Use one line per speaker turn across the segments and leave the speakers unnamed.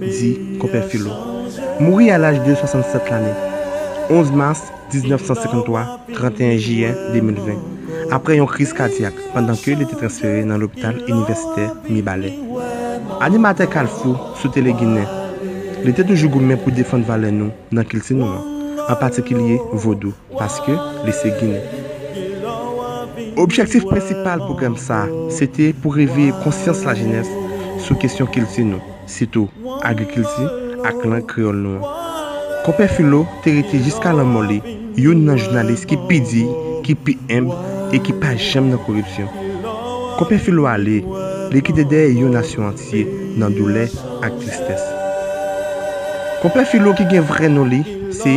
di Konpè Filo. Mouri a laj de 67 lane, 11 mas 1953, 31 jiyè 2020, aprè yon kriz kadyak pandan ke li te transfere nan lopital inivèsitè Mibalè. Animatè Kalfou sou Tele Ginen, li te toujou goumen pou defann valè nou nan kilti nou an, an patikilye Vodou. paske li se ginen. Objektif prensipal pwogram sa se te pou reveye konsyans lajenès sou kesyon kilti nou, sitou agrikilti ak lang kreyòl nou an. Konpè Filo te rete jiska lanmò li youn nan jounalis ki pi diy, ki pi enb e ki pa janm nan koripsyon. Konpè Filo ale, li kite dèyè yon nasyon antye nan doulè ak tristès. Konpè Filo ki gen vrè non li se.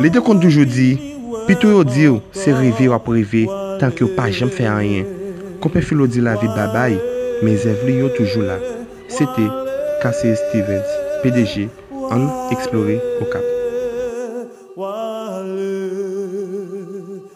Li te konn toujou di, Pito yo di w se reve w ap reve tank yo pa janm fè anyen. Konpè Filo di lavi babay, men zèv li yo toujou la. Se te, Casey Stevens, pdg, Ann Eksplore Okap.